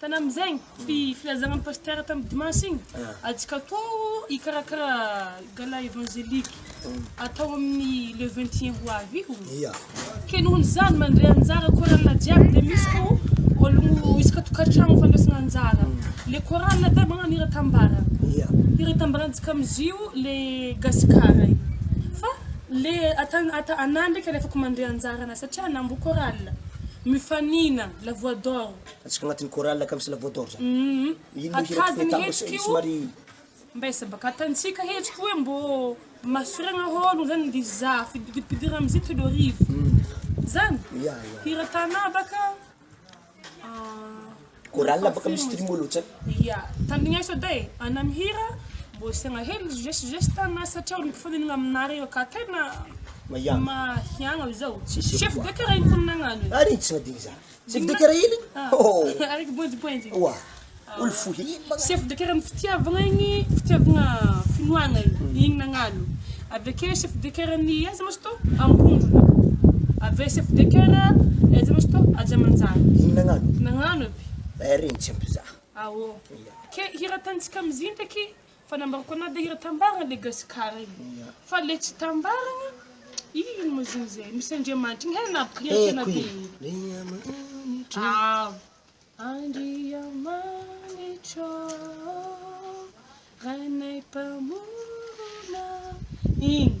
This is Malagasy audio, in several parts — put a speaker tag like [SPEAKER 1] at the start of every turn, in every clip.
[SPEAKER 1] Tanam zegny ty filazagna ny pasteur tam dimanche igny ajka atao hikarakara gala evangelique atao aminy le vingt et un ho avy io Ia. ke noho ny zany mandre anjara chorale jiaby de misy ko ologno isaka tokatragno fandraisana anjara le chorale te magnano hira tambara Ia. hira itambarantsika amizio le gasikara io fa le ata- ata- ana ndraiky alefako mandre anjarana satria ana mbo chorale mifanina la voix d'or Ataontsika agnatin'ny chorale
[SPEAKER 2] ka misy la voix d'or zany. Ino moa hira tianao atao
[SPEAKER 1] sa somary. Mba iza ba ka tantsika hetsika hoe mbô mahasorena hôlogno zany ndry za fidipidira amizia telo arivo zany hira tana ba ka
[SPEAKER 2] chorale ba ka misy trimo loatra ya tandrigneso
[SPEAKER 1] edy e ana mihira mbô asiagna hely geste geste ana satria olo mifanilana aminare io ka tegna mahiagna zao chef de karaha ino ko nagnano e. Ary tsy madigny za.
[SPEAKER 2] Chef de care iny?
[SPEAKER 1] Ohh! Oa!
[SPEAKER 2] Olo fohy iny manko! Chef de care am
[SPEAKER 1] fitiavagna igny, fitiavagna finoagna igny, igny nagnalo, avekeo chef de care ny aiza ma izy tô? Ambondrona, aveo chef de care aiza ma izy tô? Ajamanjary, igny nagnano?
[SPEAKER 2] Nagnano aby!
[SPEAKER 1] Eh regny tsy
[SPEAKER 2] ampy za! Aôh! Ke
[SPEAKER 1] hiratagnintsika amizigny ndraiky Fa nambarako anao dia io tambarana le gasikara io fa le tsy tambarana ino moa zany zay misy andriamanitra iny hay na pretra na dia ino ao Andriamanitra ô Rainay mpamorona iny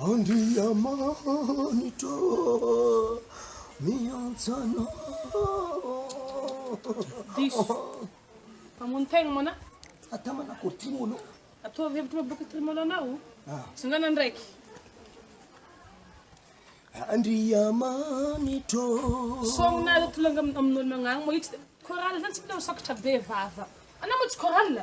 [SPEAKER 2] Andriamanitra miantsa anao.
[SPEAKER 1] Diso. Mamono tegna moana. Ata manakory
[SPEAKER 2] ty moana. Ataovy hevitry
[SPEAKER 1] maboka ty moana anao. Ah. Sangana ndraiky.
[SPEAKER 2] Andriamanitra. Songina alo
[SPEAKER 1] tolanga amin'olo magnagny mo itsy. Chorale zany tsy mila ho sokatra be vava. Anao mo tsy chorale.